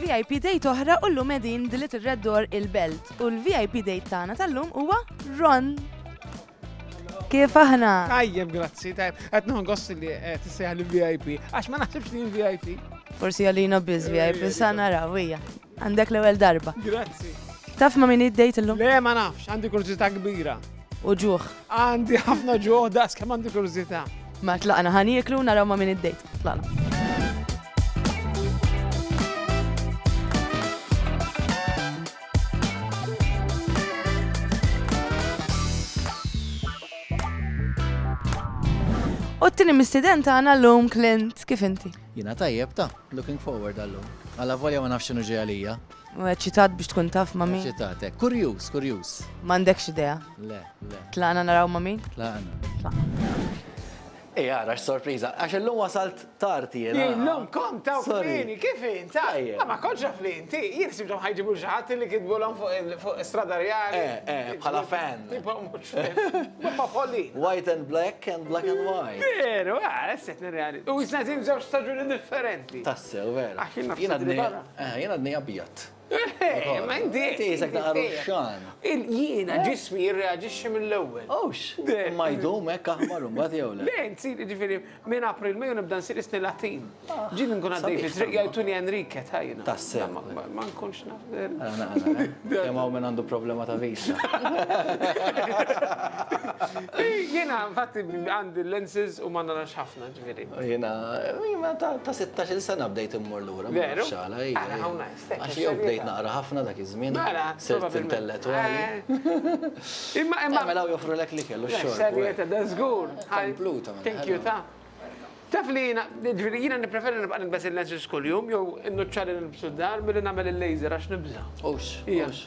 VIP date oħra u llum qegħdin dilit ir-Red Door il-Belt u l-VIP date tagħna tal-lum huwa Ron. Kif aħna? Tajjeb, grazzi, tajjeb. Qed nħon gossi li eh, tissejħa li VIP, għax ma naħsibx li VIP. Forsi għalina biz VIP, sa naraw hija. Għandek l-ewwel darba. Grazzi. Taf ma min id-dejt illum? Le, ma nafx, għandi kurżità kbira. u ġuħ. Għandi ħafna ġuħ daqs kemm għandi kurżità. Ma tlaqna ħaniklu naraw ma' min id-dejt. Tlaqna. U t-tini mistiden tagħna l-lum Clint, kif inti? Jina tajjeb ta' looking forward għallum. Għalla volja ma nafx xinu ġeja lija. U eċċitat biex tkun taf ma' min? Eċċitat, eh. Kurjuż, kurjuż. M'għandekx idea? Le, le. Tlaqna naraw ma' min? Tlaqna. Tlaqna. Ej, għara, x-sorpriza, għax l-lum wasalt tarti jena. L-lum kom taw kmini, kif int? Tajja. Ma konċa fli inti, jien sibtom ħajġibu ġaħat li kidbu l-om fuq strada reali. Eh, eh, bħala fan. Ma folli. White and black and black and white. Veru, għara, ah, s-set reali. U jisna zim zewġ staġuni differenti. Tassew, veru. Ah, jina d Eh, jien għadni abjad. Eh, ma inti. Inti jisek ta' ruxxan. Jiena eh? ġismi jirreagġixxi mill-ewwel. Ux, ma jdum hekk aħmar imbagħad jew le. Dejn sir ġifieri minn April Mejju nibda nsir isni Latin. Ah, Ġin nkun għaddej fit-triq jgħidtuni Enrique tajna. Tasse. Ma nkunx naf. Kemm hawn minn għandu problema ta' visa. Jiena infatti għandi lenses u ma narax ħafna. Jena, jena ta' 16 sena bdejt immur l-ura. Veru? Xala, Għax jew bdejt naqra ħafna dak iż-żmien. Mela, sirt intellettuali. Eh. Imma imma. Mela joffru lek li kellu xogħol. Serjeta, da żgur. Kompluta. Thank you ta'. Taf li jena, ġviri jena nipreferi nibqa nibes il-lenses kull-jum, jow innuċċali nibsu d-dar, billi namel il-laser għax nibza. Ux, ux.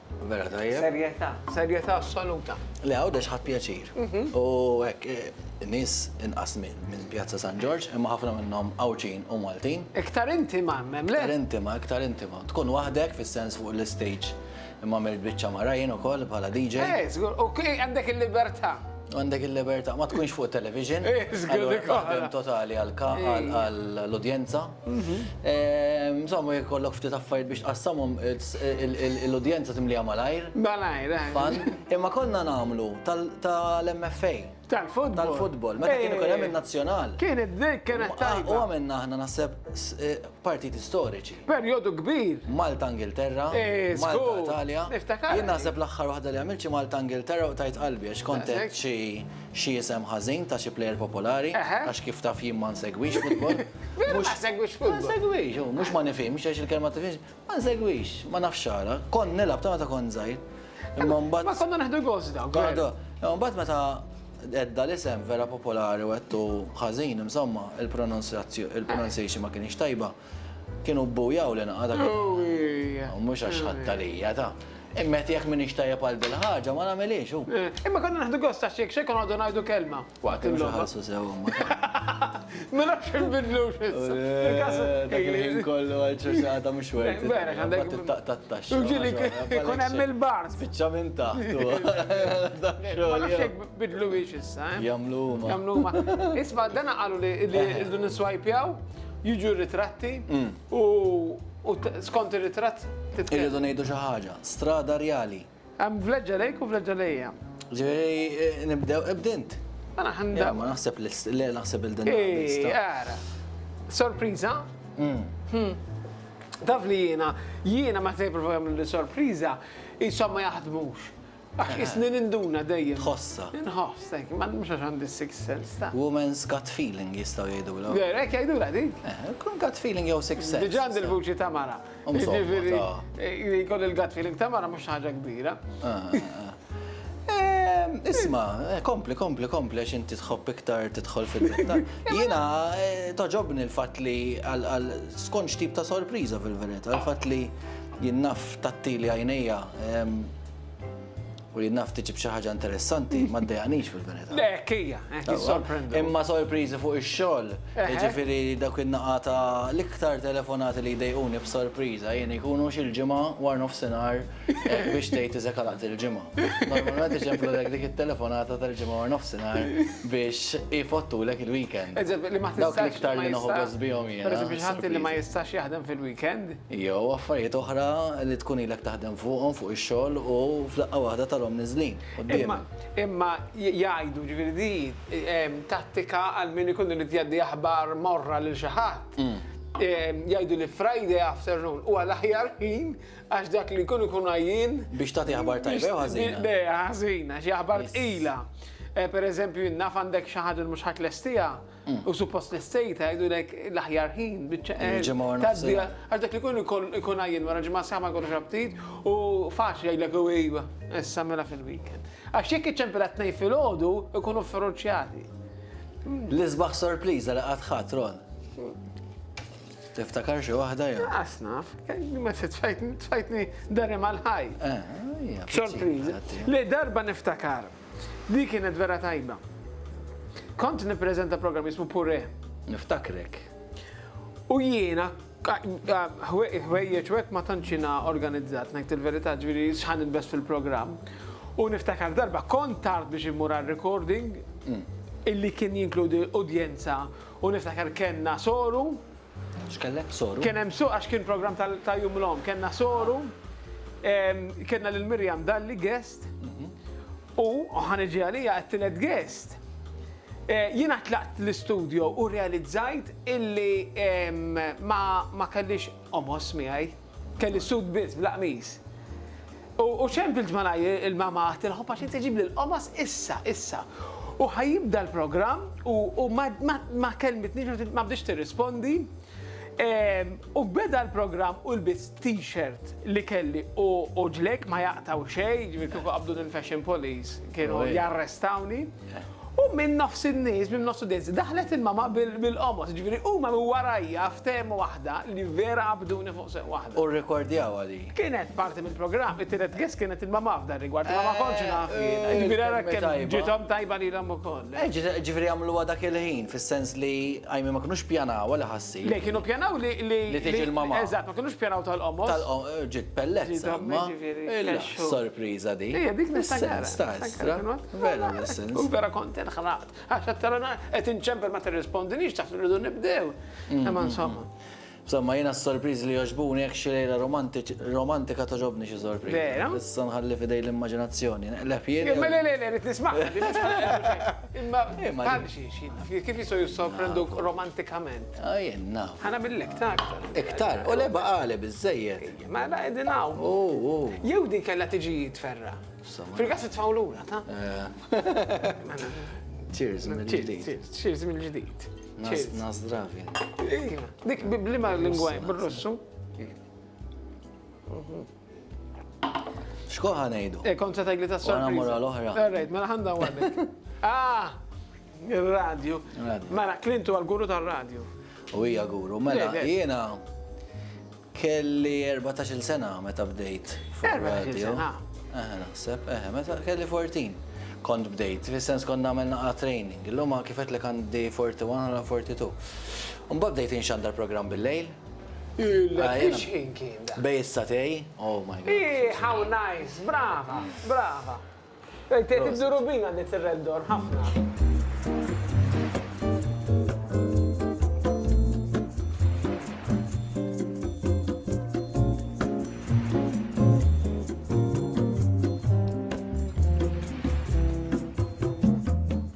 Vera tajjeb. Serjetà, serjetà assoluta. Le Għawdex ħadt pjaċir. U hekk nies inqas minn Pjazza San Ġorġ, imma ħafna minnhom Għawdxin u Maltin. Iktar intima hemm, le? Iktar intima, iktar intima. Tkun waħdek fis-sens fuq l-istage, imma għamilt biċċa mara jien ukoll bħala DJ. Eh, żgur, u għandek il-libertà. Għandek il-libertà, ma tkunx fuq television. Eh, żgur. Għandek waħda totali għall-udjenza. Insomma, jekk kollok ftit affarijiet biex tqassamhom l-udjenza timliha malajr. Malajr, eh. Imma konna nagħmlu tal-MFA. Tal-futbol. Tal-futbol, meta kien ikun hemm in-nazzjonal. Kienet dik kienet tajba. U għamilna aħna naħseb eh, partiti storiċi. Perjodu kbir. Malta Ingilterra. Eh, Malta Italja. Jien naħseb l-aħħar waħda li għamilċi Malta Ingilterra u tajt qalbi għax kontet xi isem ħażin ta' xi plejer popolari għax kif taf jien ma nsegwix futbol. Vera ma segwix futbol. Ma segwix, mhux ma nifhimx għax il-kelma tifhimx. Ma segwix, ma nafx xara. Kont nilgħab ta' meta kont żgħir. Imma mbagħad. Ma konna neħdu gost dawn. Għadu, imma mbagħad meta edda l-isem vera popolari u għedtu ħażin, insomma, il-pronunciation ma kienx tajba. Kienu bbujaw li naqa' dak. Mhux għax ħadd għalija ta' imma jekk minix tajjeb għal bil-ħaġa ma nagħmilhiex. Imma konna neħdu gost għax jekk xejn konna ngħidu kelma. Waqt il-logħba. Mhux ħalsu sew huma. Ma nafx inbidlu x'issa. Dak il-ħin kollu għal ċerċata mhux wert. Vera, għandek. Tattax. Ġili, kun hemm il-bar. Spiċċa minn taħt. Ma nafx hekk bidlu biex issa. Jamlu huma. Jamlu huma. Isma' dana qalu li rridu niswajpjaw, jiġu ritratti u skont ir-ritratt. Irridu ngħidu xi ħaġa. Strada rjali. Hemm vleġġa lejk u vleġġa lejja. Ġifieri nibdew ibd int. Mela ħanibdew. Ma naħseb li naħseb il-din. Ara. Sorpriża? Mm. Hmm. Taf li jiena, jiena ma se jipprova jagħmlu li sorpriża, jisom ma jaħdmux. Għax eh. isni ninduna dejjem. Tħossa. Nħoss, tek, ma mhux għax għandi six sense ta'. Woman's gut feeling jistgħu jgħidu l Hekk jgħidu la di. Eh, kun gut feeling jew six sense. Diġà għandi l-vuċi ta' mara. Jiġifieri, li jkun il-gut feeling ta' mara mhux ħaġa kbira. Isma, kompli, kompli, kompli, għax inti tħobb iktar tidħol fil-dettal. Jiena toġobni l-fatt li għal skonċ tip ta' sorpriża fil-verità, l-fatt li jinnaf tattili għajnejja U li naf tiġib xi ħaġa interessanti ma ddejaqnix fil-verità. Le, hija, hekk jissorprendu. Imma sorpriżi fuq ix-xogħol, jiġifieri dawk in-naqa' ta' l-iktar telefonati li jdejquni b'sorpriża jien ikunu xi l-Ġimgħa wara nofsinhar biex tgħid iżek għalaqt il-ġimgħa. Normalment iġemplulek dik it-telefonata tal-Ġimgħa wara nofsinhar biex ifottulek il-weekend. Dawk l-iktar li noħgos bihom jiena. Pereżempju xi ħadd li ma jistax jaħdem fil-weekend? Jew affarijiet oħra li tkun ilek taħdem fuqhom fuq ix-xogħol u f'daqqa waħda tarahom niżlin quddiemek. Imma jgħidu, ġifieri di tattika għal min ikun irid jgħaddi aħbar morra lil xi ħadd. Jgħidu li Friday afternoon huwa l-aħjar ħin għax dak li jkun ikun għajjien. Biex tagħti aħbar tajba jew ħażina. Le, ħażina, xi aħbar tqila. Pereżempju, jien naf għandek xi ħaġa li mhux ħa tlestiha. U suppost l-estate għajdulek l-aħjar ħin, bieċa Il-ġimgħa wara taddi nofsinhar. għax dak li kun ikun ikun għajjen wara ġimgħa sħaħ ma jkollux aptit u faċli jgħidlek u iva, issa mela fil-weekend. Għax jekk iċċempilha t-Tnejn filgħodu ikunu fferuċċjati. L-isbaħ sorpriża li qatt ħadt, Ron. Tiftakar xi waħda jew? Qas naf, ma se tfajtni tfajtni darem għal-ħaj. Eh, hija Sorpriża. pizzica, Li darba niftakar. Dik kienet vera tajba. Kont nippreżenta programm jismu Pure. Niftakrek. U jiena ħwejjeġ wek ma tantxina organizzat, ngħid il-verità ġifieri x'ħan inbes fil-programm. U niftakar darba kont tard biex immur għal-recording mm. illi kien jinkludi udjenza u niftakar kellna soru. X'kellek soru? Kien hemm soru għax kien programm ta' jum l-om, kellna soru. Ah. Kellna lil Mirjam Dalli Gess U ħa niġi għalija għat-tielet guest. Eh, jiena tlaqt l-istudio u realizzajt illi ma kellix omos miegħi, kelli sud biss bl-qmis. U ċem fil-ġmana il-mama għatilħu paċi tiġib l-omos issa, issa. U ħajibda l-program u ma kelmitni ma bdiex tirrispondi. U beda l-programm u lbist t-shirt li kelli u ġlejk ma jaqtaw xejn, ġifieri kieku qabduni l-fashion police kienu jarrestawni. U minn nofs in-nies, minn nofs l-udjenza, daħlet il-mama bil-qomos, ġifieri huma minn warajja ftehmu waħda li vera qabduni fuq seq waħda. U rrekordjawha din. Kienet parti mill-programm, it-tielet gess kienet il-mamma f'dan rigward, ma ma kontx eh, naf jien. Eh, ġifieri ara kemm ġiethom tajba lilhom ukoll. Eh, ġifieri għamluha dak il-ħin, fis-sens li għajmi ma kinux pjanaw li ħassi. Le kienu pjanaw li li tiġi l-mamma. Eżatt, ma kinux pjanaw tal-qomos. Tal-qomos ġiet pellezza. Sorpriża di. Ija dik mis-sens ta' estra. Vera mis-sens. U vera kont inħraqt. Għax qed inċempel ma tirrispondinix taħt irridu nibdew. Mm, Imma mm, insomma. Mm. B'samma jiena s-sorpriżi li jogħġbuni hekk xi lejla romantika togħġobni xi sorpriża. Vera? Issa nħalli f'idejn l-immaġinazzjoni. Neqleb jien. Le, le, le, le, rrid nismagħha din mhux ħanqleb. Imma bħal xi xi kif jistgħu jissorprenduk romantikament? Ah, jien naf. Ħa nagħmillek iktar. Iktar? U le baqali biżżejjed. Ma la qegħdin hawn. U, u. Jew din kellha tiġi tferra. Fil-każ itfgħu lura, ta? Cheers mill-ġdid. Cheers mill-ġdid. Nazdravin. Iva, dik biblima l-lingwa bil-Russu. Xkoħa nejdu? E, kontra tajli ta' s-sorpriza. Għana mura l-ohra. Għarrejt, mela ħanda għadek. Ah, il-radio. Mela, Klintu għal-guru tal-radio. U hija guru, mela, jena Kelli erbatax-il sena meta bdejt fuq ir-radju. Erbatax-il sena? Eħe, naħseb, eħe, meta kelli fourteen kont bdejt, fis-sens kont nagħmel naqra training. Illum kif għedtlek għandi forty one ħala forty two. Imbagħad bdejt inxandar programm bil-lejl. Illek li xħin kien dak? Bejn is-satej, oh my God. Hi, how nice, brava, brava.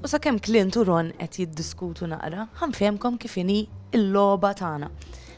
U sakemm Clint u Ron qed jiddiskutu naqra, ħanfehmkom kif inhi l-logħba tagħna.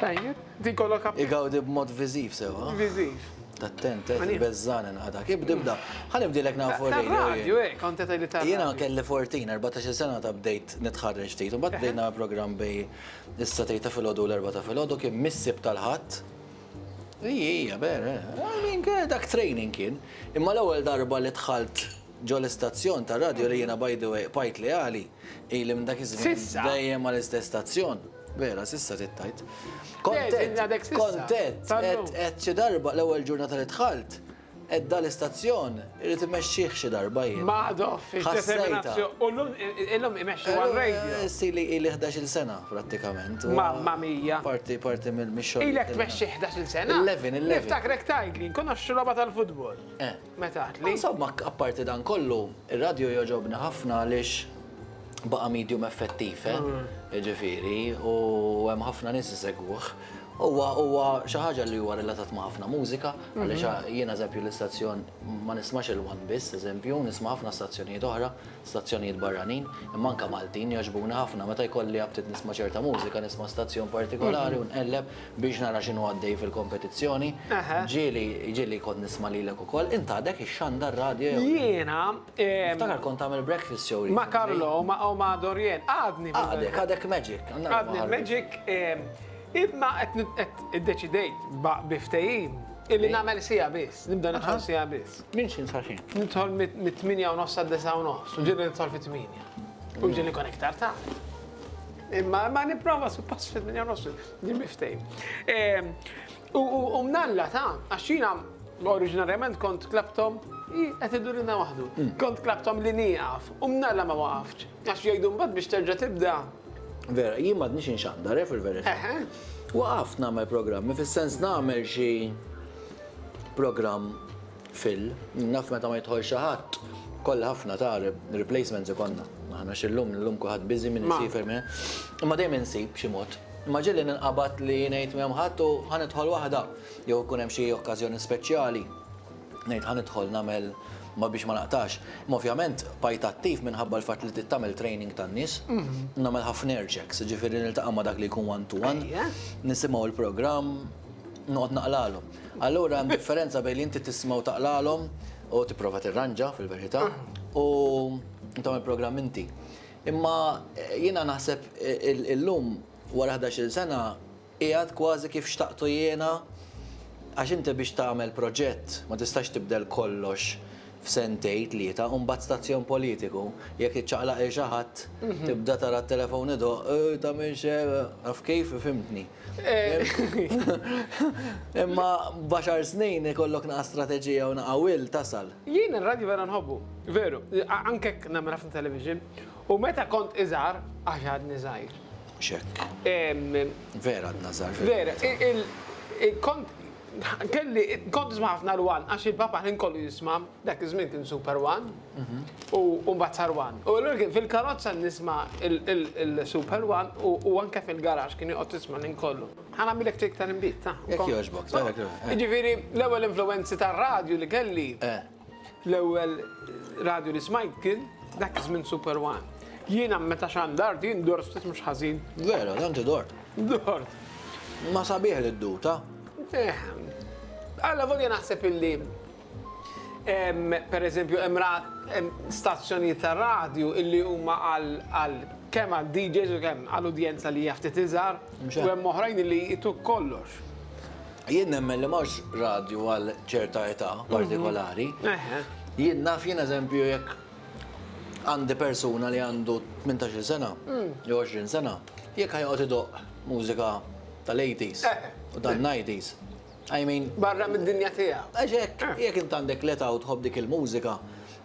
Tajjeb, din kollok appi. Igawdi b'mod viżiv sew, ha? Viżiv. Attent, eh, Għalija. beżżan inqatak. Ibda, ibda. Ħa nibdilek nafu radio Tar-radju, jien. eh, kont qed tgħidli tar-radju. Jiena kelli 14, 14-il sena meta bdejt nitħarreġ ftit. Imbagħad bdejt nagħmel programm bej is-Satej ta' filgħodu u l-Erbgħa ta' filgħodu kien mis-Sibt tal-Ħadd. Ija, ija, ber, eh. I mean, kien- dak training kien. Imma l-ewwel darba li dħalt ġo l-istazzjon tar-radju li jiena by the way qbajt leali, ili minn dak iż-żmien S'issa? dejjem mal-istess stazzjon. Vera, sissa tittajt. Kontet, kontet, et xi darba l-ewwel ġurnata li dħalt, et dal istazzjon irid imexxih xi darba jien. Maħdo, fil-determinazzjoni. U l-lum imexxu għal-radio. Eh, Sili ili 11 sena, prattikament. Mamma mija. Parti, parti mill-mixxol. Ilek tmexxi 11 sena? 11, 11. Niftakrek tajt li nkonoxxu loba tal-futbol. Eh. Meta għad li. Insomma, apparti dan kollu, ir-radju jogħġobni ħafna għaliex baqa' medium effettiv, eh? Jiġifieri, u hemm ħafna nies isegwuh. Huwa huwa xi ħaġa li huwa relatat ma' ħafna mużika, għaliex jiena eżempju l-istazzjon ma nismax il-one biss, eżempju, nisma' ħafna stazzjonijiet oħra, stazzjonijiet barranin, imma anke Maltin jogħġbuni ħafna. Meta jkolli aptit nisma' ċerta mużika, nisma' stazzjon partikolari u nqelleb. biex nara x'inhu għaddej fil-kompetizzjoni. Ġieli, ġieli kont nisma' lilek ukoll, int għadek ix-xanda r-radju. Jiena. Niftakar kont tagħmel breakfast show. Ma' Carlo u ma' Dorien, għadni. Għadek, għadek Magic. Għadni Magic, imma qed iddeċidejt bi ftehim illi nagħmel siegħa biss, nibda nidħol siegħa biss. Minn x'in sa x'in? Nidħol mit-tmienja u nofs għad-disgħa u nofs, u ġieli nidħol fit-tmienja. U ġieli nkun iktar tard. Imma nipprova suppost fit-tmienja u nofs. Dimmi ftejn. Ehm, u mnalla ta' għaxina oriġinarjament kont klabtom qed idurina waħdu. Mm. Kont klabtom li nieqaf u mnalla ma waqafx. Għax jgħidu mbagħad biex terġa' tibda. Vera, jien m'għadniex inxandar eh, fil-verità. Waqaft nagħmel programmi fis-sens nagħmel xi programm Phil, Naf meta ma jidħol xi ħadd, kollha ħafna ta' replacements ikollna aħna għax illum illum kulħadd busy min isiefer min. Imma dejjem insib xi mod. Imma ġieli ninqabad li ngħid m'hemm ħadd u ħa nidħol waħda jew ikun hemm xi okkażjoni speċjali ngħid ħa nidħol nagħmel ma biex ma naqtax. Imma ovvjament bqajt attiv minħabba l-fatt li trid tagħmel training tan-nies. Nagħmel ħafna air checks, jiġifieri niltaqa' ma' dak li jkun one to one, nisimgħu l-programm, noqgħod naqralhom. Allura hemm differenza bejn li inti tisma' u taqralhom u tipprova tirranġa fil-verità u tagħmel programm inti. Imma jiena naħseb illum wara 11-il sena qiegħed kważi kif xtaqtu jiena għax inti biex tagħmel proġett ma tistax tibdel kollox f'sentejn tlieta u mbagħad stazzjon politiku jekk iċċaqlaq lil xi ħadd tibda tara t-telefon idoqq, tagħmilx hekk, taf kif, fhimtni. Imma b'għaxar snin ikollok naqa' strateġija u naqa' will tasal. Jien ir-radju vera nħobbu, veru, anke jekk nagħmel ħafna television, u meta kont iżgħar, għax għadni żgħir. Mhux hekk. Vera għadna żgħar fil-verità. Vera, kont kelli, kont nisma' ħafna l-one għax il-papa l-ħin kollu jisma'. Dak iż-żmien kien Super One u mbagħad sar One. U allura kien fil-karozza nisma' il-Super One u anke fil-garax kien joqgħod jisma' l-ħin kollu. Ħa nagħmilek trick tal-inbid, ta? Jekk jogħġbok, ta? Jiġifieri l-ewwel influwenzi tar-radju li kelli, l-ewwel radju li smajt kien dak iż-żmien Super One. Jiena meta xandart, jien dort ftit mhux ħażin. Veru, ta' inti dort. Dort. Ma sabiħ li ddur, ta? Eħ. Allavolja naħseb illi Per eżempju, hemm stazzjonijiet ta' radju li huma għal kemm għal DJs u kemm għal udjenza li hija ftit iżgħar, u hemm oħrajn li jqisu kollox. Jien nemmen li m'hawnx radju għal ċerta età partikolari. Jien naf, jien eżempju, jekk għandi persuna li għandu tmintax-il sena jew għoxrin sena, jekk ħa joqgħod idoqq mużika tal-80s u tan-90s, I mean. Barra mid-dinja tiegħu. Għax hekk, jekk int għandek l-età u tħobb dik il-mużika,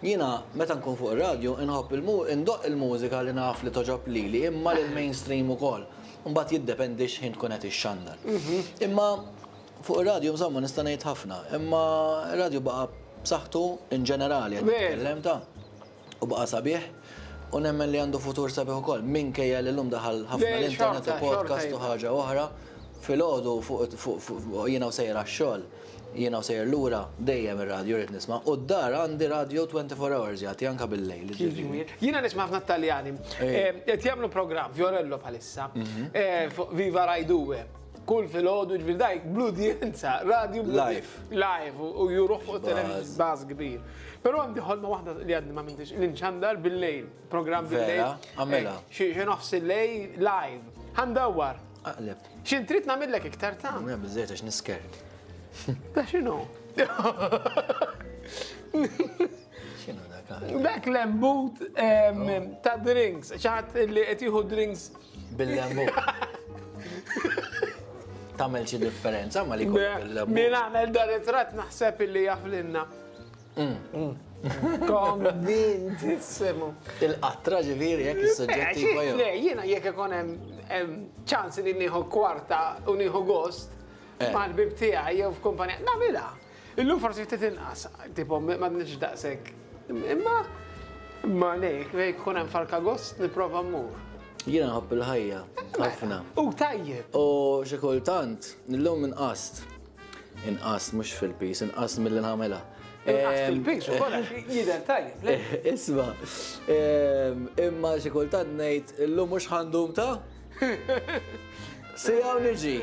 jiena meta nkun fuq ir-radju inħobb indoqq il-mużika li naf li togħġob lili imma lill-mainstream ukoll. Imbagħad jiddependi x'ħin tkun qed ixxandar. Imma fuq ir-radju insomma nista' ngħid ħafna, imma r-radju baqa' b'saħħtu in ġenerali qed nitkellem ta'. U baqa' sabiħ, u nemmen li għandu futur sabiħ ukoll, minkejja li llum daħal ħafna l-internet u podcast u ħaġa oħra. Filgħodu jiena u sejjer għax-xogħol, jiena u sejjer lura, dejjem ir-radju rrid nisma'. U d-dar għandi radju 24 hours jagħti anke bil-lejl, jiġifieri. Jiena nisma' ħafna t-Taljani. Qed jagħmlu programm, Fiorello bħalissa, fuq Viva Rai Due. Kull filgħodu ġbir dajk bl-udjenza, radju live. Live u juruħ fuq televizjoni baż kbir. Però għandi ħolma waħda li għadni ma mintix l-inċandar bil-lejl, programm bil-lejl. Għamela. Eh, xi nofs il-lejl live. Għandawwar. Aqleb. X'in trid nagħmillek iktar ta'? Mela biżejt għax nisker. Ta' x'inhu? X'inhu dak aħna? Dak l-embut ta' drinks, ċaħat li qed jieħu drinks. Bil-lembut. Tamel xi differenza ma li bil-lembut. Min għamel dar it-trat naħseb illi jaflinna. Mm. Mm. Konvint, semu. Il-qatra ġiviri, jek il-sujġetti eh, għajju. Le, jina jek ikon ċans li nieħu kwarta u nieħu gost, eh. mal-bib tijaj, jew f'kumpanija, namila. Illum forsi ftit inqas, tipo m'għadniex daqshekk. Imma imma lejk, lejk kun hemm Farkagost nipprova mmur. Jiena nħobb il-ħajja, ħafna. U tajjeb! U xi kultant, illum inqast. Inqast mhux fil-pis, inqast milli nagħmilha. Inqast fil-pis ukoll għax jidher tajjeb. Isma', imma xi kultant ngħid illum mhux ħandum ta'? Siegħa u niġi.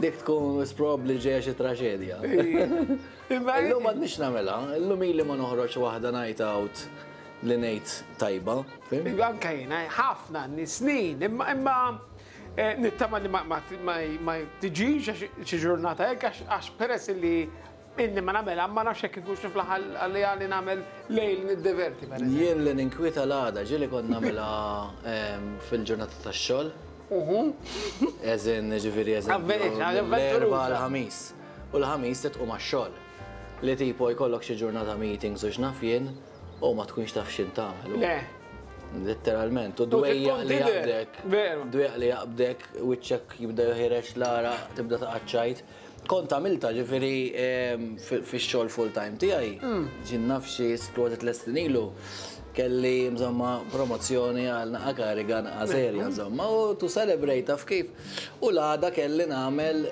Dik tkun wis probabbli ġejja xi traġedja. Illum m'għadniex nagħmilha, illum ili ma noħroġ waħda night out li ngħid tajba. Anke jiena ħafna snin, imma eh, nittama li ma tiġix xi ġurnata hekk għax peress li Inni ma nagħmilha, ma nafx jekk ikunx niflaħ għaliha li nagħmel lejl niddiverti, per eżempju. Jien li ninkwieta l-għada, ġieli kont nagħmilha fil-ġurnata tax-xogħol. As in, jiġifieri as in. Avvenituri, ħaġa avventuruża. L-Erbgħa, l-Ħamis. U l-Ħamis se tqum għax-xogħol. Li tipo jkollok xi ġurnata meetings u x'naf jien, u ma tkunx taf x'inhu tagħmel. Le. Litteralment. U d-dwejjaq li jaqbdek. Veru. D-dwejjaq li jaqbdek, wiċċek jibda joħroġ l-għaraq, tibda taqgħad tgħid. Kont għamilta ġifiri fix-xogħol full-time tiegħi, ġin naf xi kważi tliet snin ilu, kelli insomma promozzjoni għal naqa' kariga naqa' serja insomma u to celebrate taf kif, u l-għada kelli nagħmel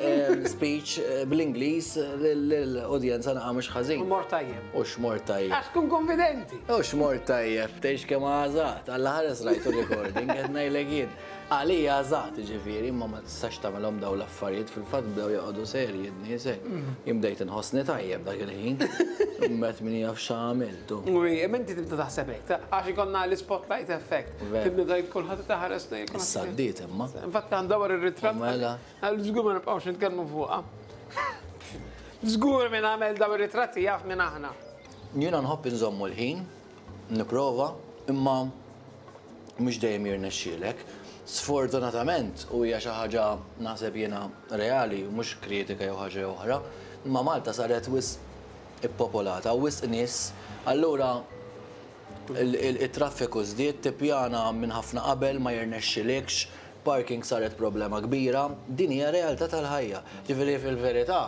speech bl-Ingliż lill-udjenza naqa' mhux ħażin. U mort tajjeb. U x'mort tajjeb. Għax tkun kunfidenti. U x'mort tajjeb, tgħix kemm għażaqt. Alla ħares rajt ir-recording, qed ngħidlek jien. Għalija eżatt, jiġifieri, imma ma tistax tagħmilhom dawn l-affarijiet, fil-fatt bdew joqogħdu serji d-niesel. Jien bdejt inħossni tajjeb dak il-ħin. Imbagħad min jaf x'għamilt u. U imma inti tibda taħseb hekk, għax ikollna l-ispotlight effect. Veru. Tibda tgħid kulħadd qed iħares lejn kulħadd. Issa għaddiet imma. Infatti qed ndawwar ir-ritratt. U mela. Għal żgur ma nibqgħux nitkellmu fuqha. Żgur min għamel dawn ir-ritratti jaf min aħna. Jiena nħobb inżommu l-ħin. nipprova imma mhux dejjem jirnexxielek. Sfortunatament u hija xi ħaġa naħseb jiena reali mhux kritika jew ħaġa jew oħra, imma Malta saret wisq ippopolata u wisq nies, allura it-traffiku żdied, tippjana minn ħafna qabel ma jirnexxilikx, parking saret problema kbira, din hija realtà tal-ħajja. Ġifieri fil-verità,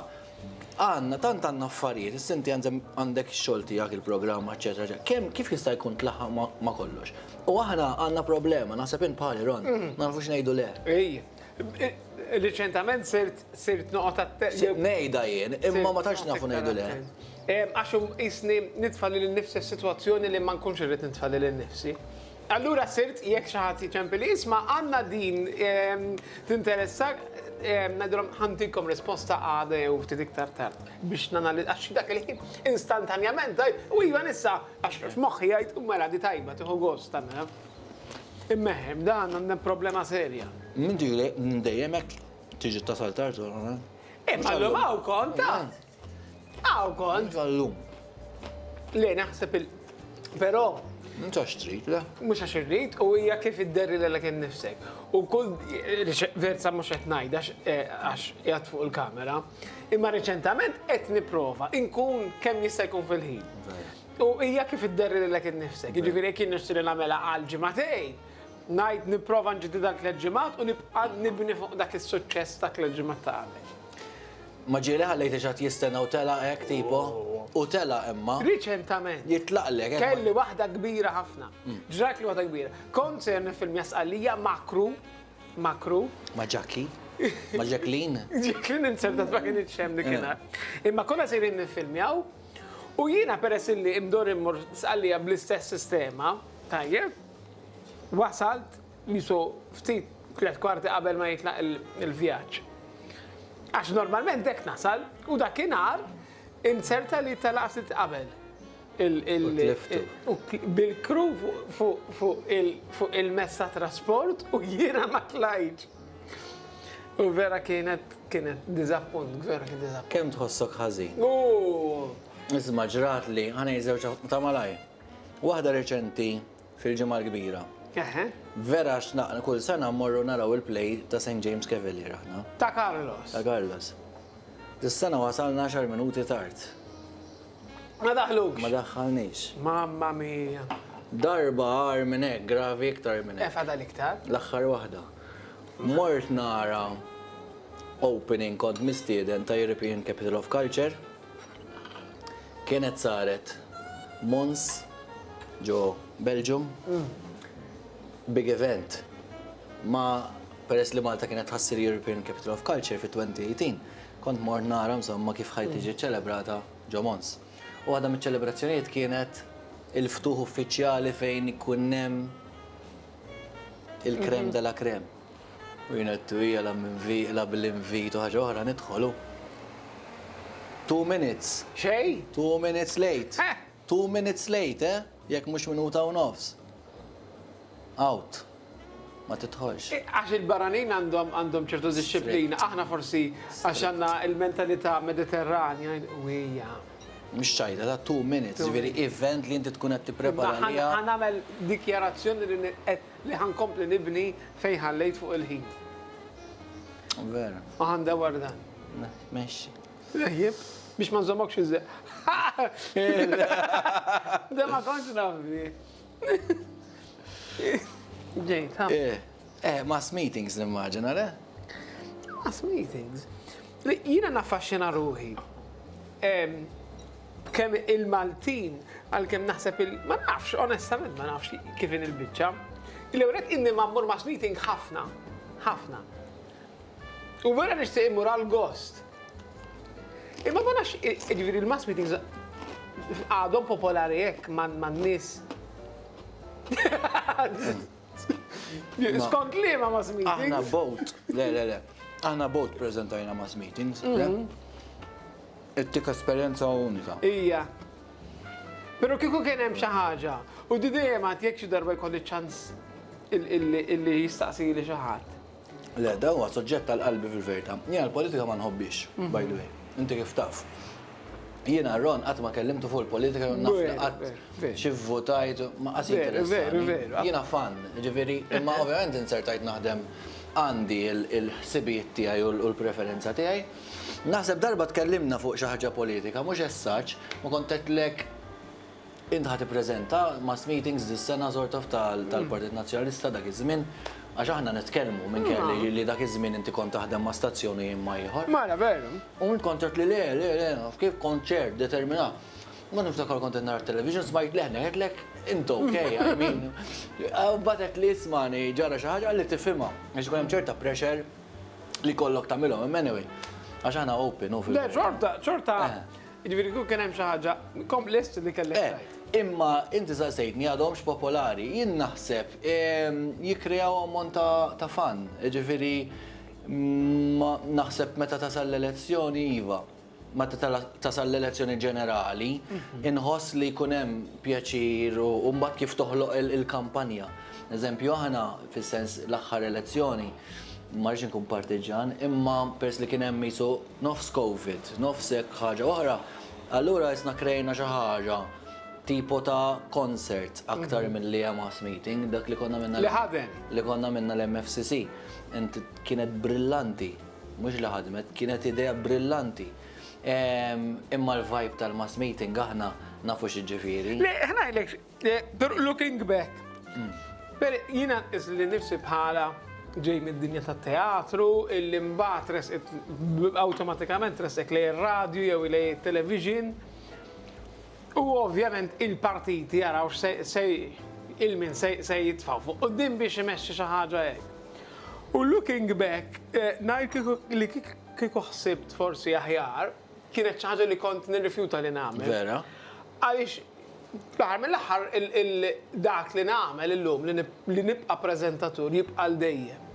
Għandna, tant għandna affarijiet, issa inti għandek ix-xogħol tiegħek, il-programm, eċetera, eċetera. Kemm kif jista' jkun tlaħħaq ma' kollox? U aħna għandna problema, naħseb int bħali Ron, mm-hmm. ma nafux ngħidu le. Riċentament sirt sirt noqgħod attent. Ngħidha jien, imma ma tantx nafu ngħidu le. Għax isni nitfa' lil nifsi s-sitwazzjoni li ma nkunx irrid nitfa' lil nifsi. Allura sirt jekk xi ħadd jiċempilli, isma' għandna din tinteressak? Ngħidilhom ħa ntikom risposta għada jew ftit iktar tard biex nanalizz għax dak il-ħin instantanjament tgħid u iva nista' għax f'moħħi jgħid u mela di tajba tieħu gost tagħmilha. Immeħħi, b'dan għandna problema serja. Minn dik li dejjem hekk tiġi tasal tard. Imma llum hawn kont tard. Aw kont. Tal-lum. Le, naħseb il. Però. Mhux għax trid, le? Mhux għax irrid, u hija kif idderri l kien nifsek. U kull verza mhux qed ngħid għax eh, jgħat fuq il-kamera. Imma reċentament qed nipprova inkun kemm jista' jkun fil-ħin. U hija kif idderri l kien nifsek. Jiġifieri kien nixtri nagħmela għal ġimatej, ngħid nipprova nġiddi dak l-ġimgħat u nibqa' nibni fuq dak is-suċċess dak l-ġimgħat ta' qabel. Ma ġieli ħallejthiex għad jistenna u telaq hekk tipo? U telaq imma. Riċentament. Jitlaqlek hekk. Kelli waħda kbira ħafna. Ġratli waħda kbira. Kont sejjer niffilmja Sqallija ma' crew, ma' crew. Ma' Ġakki? Ma' Ġaklin? Ġaklin insertat ma kinitx hemm dik in-nhar. Imma konna sejrin niffilmjaw u jiena peress illi mdorr immur Sqallija bl-istess sistema, tajjeb, wasalt, Qisu ftit tliet kwarti qabel ma jitlaq il-vjaġġ. Għax normalment hekk nasal u dakinhar inzerta li telaq ftit qabel. Bil-crew fuq il-mezz ta' trasport u jiena ma tlajtx. U vera kienet kienet diżappunt, vera kien diżappunt. Kemm tħossok ħażin. Ooh! Isma' ġratli, ħa ngħid żewġ ta' malajr. Waħda reċenti Fil-Ġimgħa l-Kbira. Eħe. Vera għax kull sena mmorru naraw il-play ta' St. James Cavalier aħna. Ta' Carlos. Ta' Carlos. Dis-sena wasalna għaxar minuti tard. Ma daħlux. Ma daħħalniex. Mamma mia. Darba agħar minn hekk, gravi iktar minn hekk. Eh fadal iktar. L-aħħar waħda. Mort nara opening kont mistieden ta' European Capital of Culture. Kienet saret Mons ġo Belgium. Big event. Ma peress li Malta kienet tħassir European Capital of Culture fi 2018, kont mort nara insomma kif ħaj tiġi ċċelebrata ġo Mons. U waħda miċ-ċelebrazzjonijiet kienet il-ftuħ uffiċjali fejn ikun hemm il-crème de la crème. U jien għedtu hija la m'invi, la bl-invit u ħaġa oħra nidħol u. Two minutes. Xejn? Two minutes late. Heh! Two minutes late, eh? Jekk mhux minuta u nofs. Out. Ma tidħolx. Għax il-barranin għandhom għandhom ċertu dixxiplina. Aħna forsi għax għandna l-mentalità Mediterranja u hija. Mhux ċajta, ta' two minutes, ġifieri event li inti tkun qed tipprepara għaliha. Ħa nagħmel dikjarazzjoni li qed Li ħa nkompli nibni fejn ħallejt fuq il-ħin. Vera. U ħa ndewwar dan. Mexxi. Rejjib, biex ma nżommokx iżeq. Da ma kontx nafdi. Ġejt, ha? Eh, eh, mass meetings nimmaġina, le? Mass meetings? Jina naffaxxina ruħi. B'kemm il-Maltin, għalkemm naħseb il-, ma nafx, onestament ma nafx kif inhi l-biċċa. L-ewwel nett inni mgħammur mass meeting ħafna, ħafna. U vera nixtieq immur għall-gost. Imma ma nafx, jiġifieri l-mass meetings għadhom popolari hekk man-nies. Skont li ma mass meetings? Aħna boat, le, le, le. Aħna boat prezentajna mass meetings. Mhm. Ittik esperienza unika. Ija. Pero kiku kien hemm xi ħaġa, u di dejjem għad jekk xi darba jkolli ċans illi jistaqsi li xi ħadd. Le, dan huwa suġġett għal qalbi fil-verità. Jiena l-politika ma nħobbix, by the way. Inti kif taf. Jiena Ron qatt ma kellimtu fuq il-politika jew naf li qatt xi vvutajt ma qas jinteressani. Jiena fan, ġifieri, imma ovvjament inzertajt naħdem għandi l-ħsibijiet tiegħi u l-preferenza tiegħi. Naħseb darba tkellimna fuq xi ħaġa politika, mhux as such, u kont għedtlek, Int ħa tippreżenta mass meetings dis-sena sort of tal-Partit Nazzjonalista dak iż-żmien? Għax aħna nitkellmu minkejja li li dak iż-żmien inti kont taħdem ma' stazzjon u jien ma' ieħor. Mela veru. U int kont għedt li le, le, le, naf kif, kont ċert, determinat. Mbagħad niftakar kont qed nara t-television smajt leħnek, għedtlek, int ok, I mean. U mbagħad għedt li ismagħni ġara xi ħaġa qalli tifhimha għax ikun hemm ċerta pressure li jkollok tagħmilhom. Imma anyway, għax aħna open hu fil-verità. Le xorta, xorta. Jiġifieri kieku kien hemm xi ħaġa kompless li kellek tgħid. Eh, imma inti saqsejtni għadhomx popolari. Jien naħseb jikkrejaw ammont ta' ta' fun. Jiġifieri naħseb meta tasal l-elezzjoni iva. Meta tasal l-elezzjoni ġenerali, inħoss li jkun hemm pjaċir u mbagħad kif toħloq il-kampanja. Eżempju aħna fis-sens l-aħħar elezzjoni, ma rridx inkun partiġġan, imma peress li kien hemm qisu Nofs Covid, nofs hekk ħaġa oħra, allura isna krejna xi ħaġa tipo ta' concert aktar milli hemm house meeting, dak li konna għamilna. Li ħadem. Li konna għamilna l-MFCC. Inti kienet brillanti, mhux li ħadmet, kienet idea brillanti. Imma l-vibe tal-mass meeting aħna nafu xi ġifieri. Le, ħa ngħidlek, Looking back, jiena nqis li nifsi bħala ġej mid-dinja tat-teatru, illi mbagħad resqet awtomatikament resqek lej ir-radju jew lej it-television. U ovvjament il-partiti jaraw x'se il-min se jitfgħu fuq quddiem biex imexxi xi ħaġa hekk. U looking back, ngħid li kieku ħsibt forsi aħjar, kienet xi ħaġa li kont nirrifjuta li nagħmel. Vera. Għaliex fl-aħħar mill-aħħar dak li nagħmel illum li nibqa' preżentatur jibqa' l dejjem.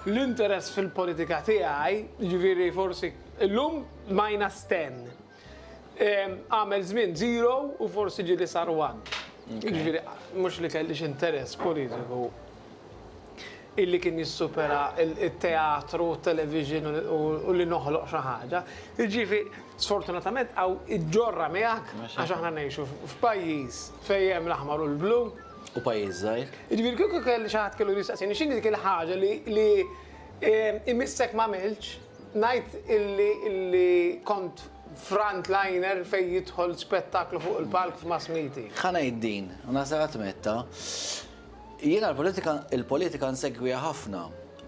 L-interess fil-politika tiegħi, jiġifieri forsi illum minus 10. Għamel żmien zero u forsi ġieli sar one. Jiġifieri mhux li kellix interess politiku. illi kien jissupera t-teatru, t-television u li noħloq xi ħaġa. Jiġifi, sfortunatament hawn iġġorrha miegħek għax aħna ngħixu f'pajjiż fejn hemm l-aħmar u l-blu. U pajjiż żgħir. Jiġifieri kieku kelli xi ħadd kellu jistaqsini x'inhi dik il-ħaġa li imissek m'għamiltx, ngħid illi kont frontliner fejn jidħol spettaklu fuq il-palk f'mass meeting. Ħa ngħid din, u naħseb għad mgħidtha, Jiena l-politika nsegwiha ħafna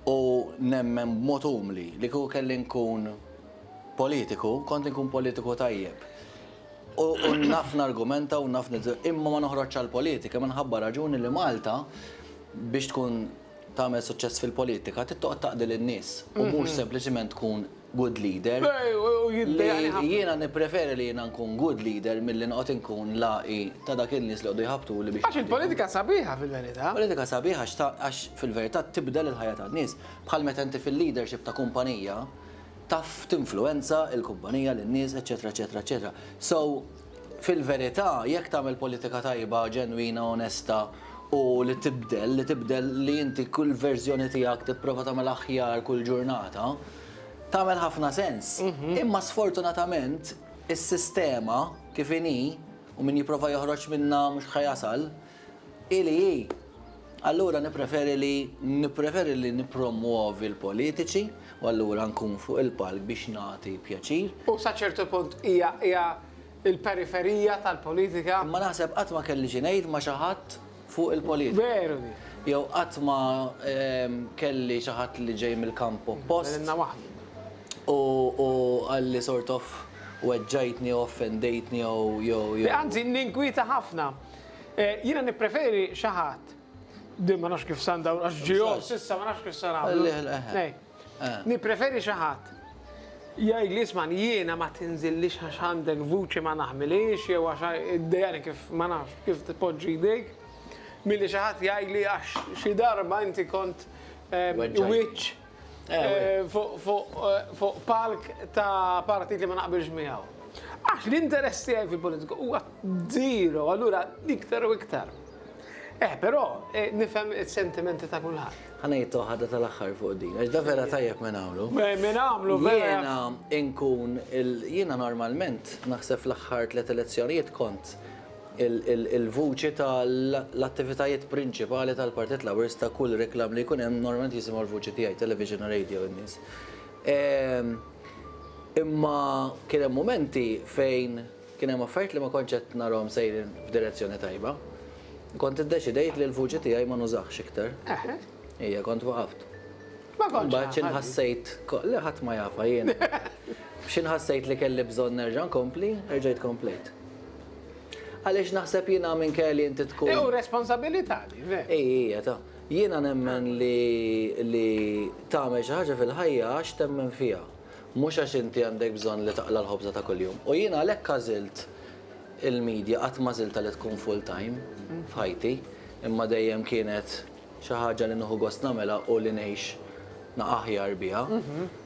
u nemmen b'mod umli li kieku kelli nkun politiku, kont inkun politiku tajjeb. U naf nargumenta u naf imma ma noħroġx għall-politika minħabba raġuni li Malta biex tkun tagħmel suċċess fil-politika trid toqgħod taqdi lin-nies u mhux sempliċiment tkun good leader, li jiena nippreferi li jiena nkun good leader milli noqgħod inkun l-għaqi ta' dak in-nies li jqogħdu jħabbtuli biex. Għax il-politika sabiħa fil-verità. Il-politika sabiħa għax fil-verità tibdel il-ħajja tan-nies. Bħal meta inti fil-leadership ta' kumpanija taf tinfluwenza l-kumpanija, lin-nies, eċċetera, eċċetera, eċċetera. So, Fil-verità, jekk tagħmel politika tajba, ġenwina, onesta u li tibdel, li tibdel li inti kull verżjoni tiegħek tipprova tagħmel aħjar kull ġurnata, tagħmel ħafna sens. Imma sfortunatament is-sistema kif inhi u min jipprova joħroġ minnha mhux ħa jasal, Hi li hi. Allura nippreferi li nippreferi li nippromwovi l-politiċi u allura nkun fuq il-palk biex nagħti pjaċir. U sa ċertu punt hija hija l-periferija tal-politika. Imma naħseb qatt ma kelli xi ngħid ma' xi ħadd fuq il-politika. Veru din. Jew qatt ma kelli xi ħadd li ġej mill-kamp oppost. Għalilna waħdna. U u qalli sort of weġġajtni jew offendejtni jew jew jew. Anzi ninkwieta ħafna Jiena nippreferi xi ħadd. Din ma nafx kif san dawn għax ġihom s'issa ma nafx kif san għamlu. Nippreferi xi ħadd jgħid li isma' jiena ma tinżillix għax għandek vuċi ma naħmilhiex jew għax iddejjaqni kif ma nafx kif tpoġġi jdejk milli xi ħadd jgħidli għax xi darba inti kont wiċċ fuq palk ta' partit li ma naqbilx miegħu. Għax l-interess tiegħi fil-politika huwa zero, allura iktar u iktar. Eh, però, eh, nifhem is-sentimenti ta' kulħadd. Ħana jittu ħadda tal-axħar fuq din, għax da vera tajjeb minn għamlu. Minn għamlu, vera. Jena inkun, jena normalment, naħseb l-axħar tlet elezzjonijiet kont il-vuċi ta' l-attivitajiet prinċipali tal-Partit Laburista kull reklam li jkun hemm normalment jisimgħu l-vuċi tiegħi, television u radio in-nies. Imma kien hemm mumenti fejn kien hemm affarijiet li ma kontx qed narahom sejrin f'direzzjoni tajba. Kont iddeċidejt li l-vuċi tiegħi ma nużahx iktar. Eħe. Ija, kont waqaft. Ma kontx Imbagħad xi nafha di. nħassejt ko- le ħadd ma jafha jiena. Xi nħassejt li kelli bżonn nerġa' nkompli, erġajt komplejt. Għaliex naħseb jiena minkejja li inti tkun Hi hu responsabilità di, veru. Hi, hi, hi, ta. Jiena nemmen li li tagħmel xi ħaġa fil-ħajja għax temmen fiha, mhux għax inti għandek bżonn li taqla' l-ħobża ta' kuljum. U jiena għalhekk għażilt il-media, qatt m'għażiltha li tkun full-time f'ħajti, imma dejjem kienet Xi ħaġa li nieħu gost nagħmilha u li ngħix aħjar biha.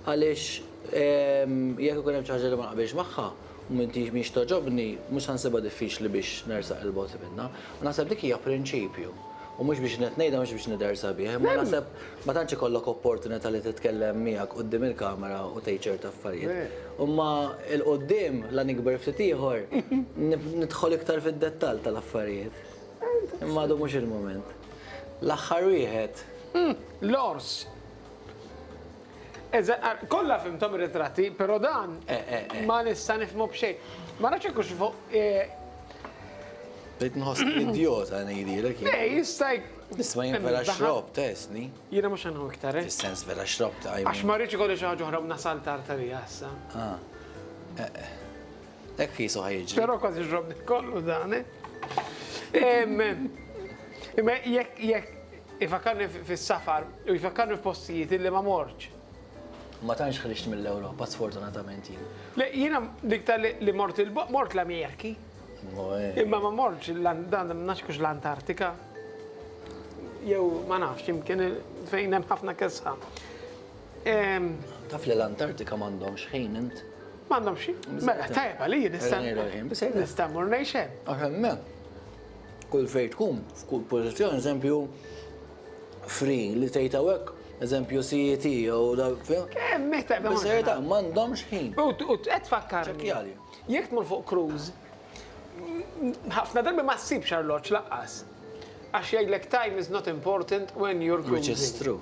Għaliex jekk ikun hemm xi ħaġa li ma naqbilx magħha u mhix togħġobni, mhux se nsibha diffiċli biex nersaq 'il bogħod minnha. U naħseb dik hija prinċipju. U mhux biex qed ngħidha mhux biex nidher sabiħ, imma naħseb ma tantx ikollok opportunità li titkellem miegħek quddiem il-kamera u tgħid ċerti affarijiet. Imma 'l quddiem, la nikber ftit ieħor, nidħol iktar fid-dettall tal-affarijiet. Imma għadu mhux il-mument. L-aħħar wieħed. Hm, l-ors. Kollha fimtom ir-ritratti, però dan eh, eh, eh. ma nista' nifhmu b'xejn. Ma nafx hekk fuq Bdejt nħoss idiota ngħidilek. Ej, jista' Isma' jien vera xrob tesni. Jiena mhux għandu iktar. Fis-sens vera xrob ta' Għax ma rridx ikolli xi ħaġa oħra mna saltar ta' li issa. Ah. Hekk qisu ħa jiġri. Però kważi ġrobni kollu dan. Imma jekk jekk ifakkarni fis-safar u jfakkarni f'postijiet li ma morċ. Ma tantx ħriġt mill-Ewropa sfortunatament jien. Le jiena dikta li mort mort l-Ameriki. Imma ma morċ dan naxkux l-Antartika. Jew ma nafx imkien fejn hemm ħafna kesħa. Taf li l-Antartika m'għandhomx ħin int? M'għandhomx ħin? Mela tajjeb għalija nista' nista' mmur ngħix hemm. Għax hemmhekk kull fejn tkun f'kull pożizzjoni eżempju free li tgħid hawnhekk eżempju CET jew dak fih. Kemm meta m'għandhomx ħin. U qed tfakkarni. Jekk tmur fuq cruise Ħafna drabi ma ssibx arloġġ lanqas. Għax jgħidlek time is not important when you're cruising. Which is true.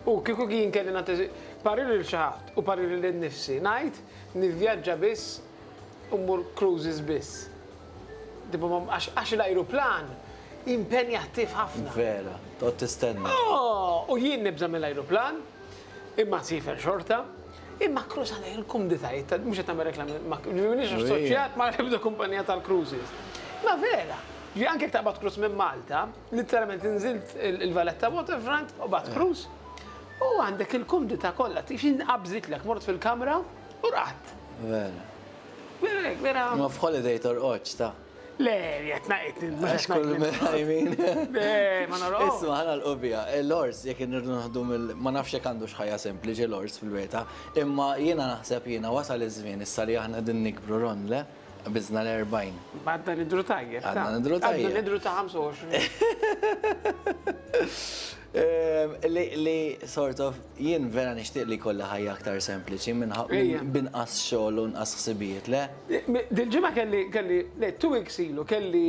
U kieku jien kelli nagħti parir lil xi ħadd u parir lil innifsi, ngħid nivvjaġġa biss u mmur cruises biss. Għax l-ajruplan impenjattiv ħafna. Vera, toqgħod tistenna. U jien nibża' mill-ajruplan, Imma nsifer xorta, imma cruise għana il-kumditajiet ta' mhux qed nagħmel reklam, m'iniex assoċjat ma' ebda kumpanija tal-cruises. Ma vera, ġi anke taqbad cruise minn Malta, literalment inżilt il-Valletta Waterfront u bad cruise u għandek il-kumdità kollha, tgħix inqabżitlek, mort fil-kamra u rqadt. Vera. Vera hekk, vera. Ma f'holiday torqodx, ta'. Le, jett naqitni, mux jett naqitni. I mean. Le, ma naraw. Isma, ħana l-qubija. Eh, Lors, jek nirdu naħdu mill... Ma nafx jek għandu xħajja sempliċi Lors fil-weta. Imma jena naħseb jena wasal iż-żmien issa li aħna din nikbru ron, le? Bizna l-40. Għadna nidru tajjeb. Għadna nidru tajjeb. Għadna nidru ta' 25. Li sort of jien vera nixtieq li jkollha ħajja aktar sempliċi minn binqas xogħol u nqas ħsibijiet, le? Dil-ġimgħa kelli, kelli, le, two weeks ilu kelli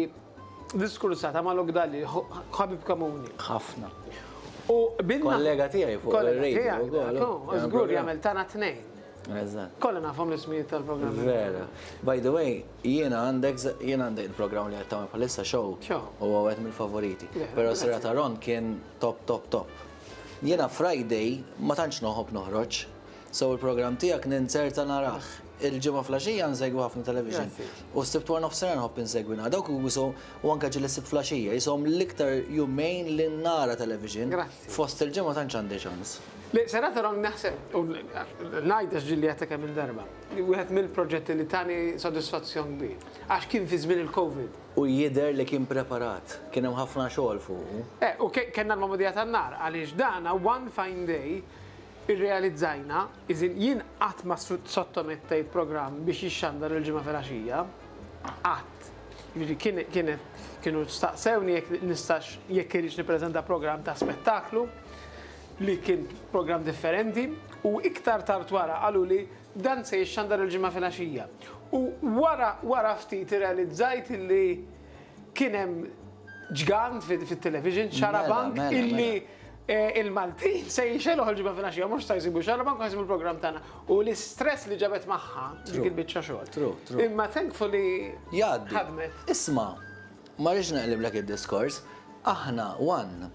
diskursata ma' Luke Dalli, ħabib komuni. Ħafna. U binna. Kollega tiegħi fuq ir-radio. Żgur jagħmel tagħna tnejn. Eżatt. Kolla nafhom l-ismijiet tal-programmi. Vera. By the way, jien għandek jien għandek il-programm li qed tagħmel bħalissa show. Show. U għawet mill-favoriti. Però sera ta' Ron kien top top top. Jiena Friday ma tantx noħob noħroġ. So il-programm tiegħek ninzerta narah. Il-ġimgħa flaxija nsegwi ħafna television. U s-sibt wara nofsinhar nħobb insegwi nara dawk u anke ġieli s-sibt flaxija. Ishom l-iktar jumejn li nara television. Fost il-ġimgħa tantx għandi ċans. Le, sena ta' ron naħseb, u ngħid għax ġilli għatta kemm darba, li wieħed mill-proġetti li tani sodisfazzjon kbir, għax kien fi żmien il-Covid. U jidher li kien preparat, kien hemm ħafna xogħol fuqu. E, u kellna l-magħmudija tan-nar, għaliex dan one fine day irrealizzajna, is in jien qatt ma sottomettejt programm biex jixxandar il-Ġimgħa filgħaxija, qatt. Jiġifieri kien, kienet, kienu staqsewni jekk nistax, jekk irridx nippreżenta programm ta' spettaklu. li kien programm differenti u iktar tard wara qaluli dan se jixxandar il-Ġimgħa filgħaxija. U wara wara ftit irrealizzajt li kien hemm ġgant fit-television, mela, xarabank mela, mela. illi eh, il-Maltin se jixeluħ il-ġimgħa filgħaxija mhux se jsibu xarabank u jsibu l-programm tagħna. U l-istress li ġabet magħha dik il-biċċa xogħol. Imma thankfully ħadmet. Isma' ma rridx naqliblek id-diskors, aħna one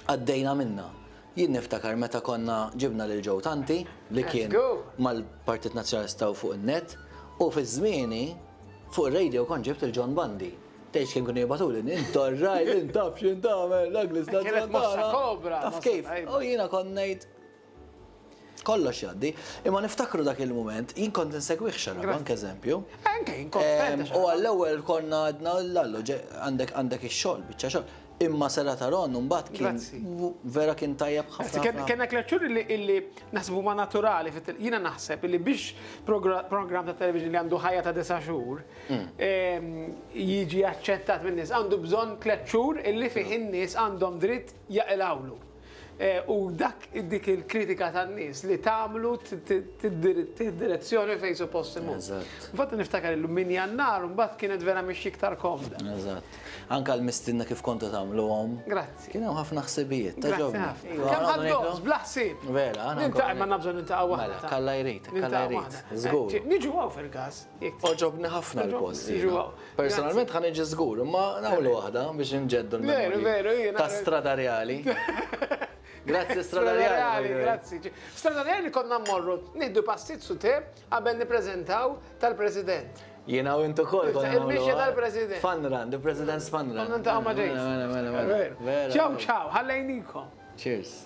Għaddejna minnha. Jien niftakar meta konna ġibna lil Joe Tanti li kien mal-Partit Nazzjonalista u fuq in-net u fi żmieni fuq ir-radio kont ġibt lil John Bundy. Tgħidx kemm kienu jibgħatuli, int orrajt, int taf x'int tagħmel, l-ugly stat tal-Malta. Taf kif? U jiena kont ngħid, Kollox jgħaddi. Imma niftakru dak il-mument, jien kont insegwih xarabank, eżempju. Anke jien kont ehm, U għall-ewwel konna għadna l-allu, għandek għandek ix-xogħol, biċċa xogħol. Imma Sera ta' Ron mbagħad kien vera kien tajjeb ħafna. Kien hekk l-aċċur li naħsbu ma' naturali, jiena naħseb li biex programm ta' television li għandu ħajja ta' disa' xhur mm. ehm, jiġi aċċettat minn nies għandu bżonn tliet xhur illi fih in-nies għandhom dritt jaqilgħulu. U dak dik il-kritika tan-nies li tagħmlu direzzjoni fejn suppost imur. Infatti niftakar illum min jannar mbagħad kienet vera mhix iktar komda. Eżatt. Anka l-mistinna kif kontu tagħmluhom. Grazzi. Kien hemm ħafna ħsibijiet ta' ġobni. Kemm ħadd bla ħsieb. Vera, għandna. Nintaqgħu ma nabżgħu nintaqgħu waħda. Mela, kalla jrid, kalla jrid. Żgur. Niġu hawn fil-każ. Għoġobni ħafna l-post. Personalment ħan iġi żgur, imma nagħmlu waħda biex inġeddu l-memorji. Ta' Strada Reali. Grazzi Strada Reali. Grazzi. Strada Reali konna mmorru nieħdu passit su te qabel nippreżentaw tal-President. Jiena u intu kol konna. Il-mixja tal-President. Fanran, the President's Fanran. Konna ntaqa' ma' ġejs. Mela, mela, mela. Ciao, ciao, ħallejnikom. Cheers.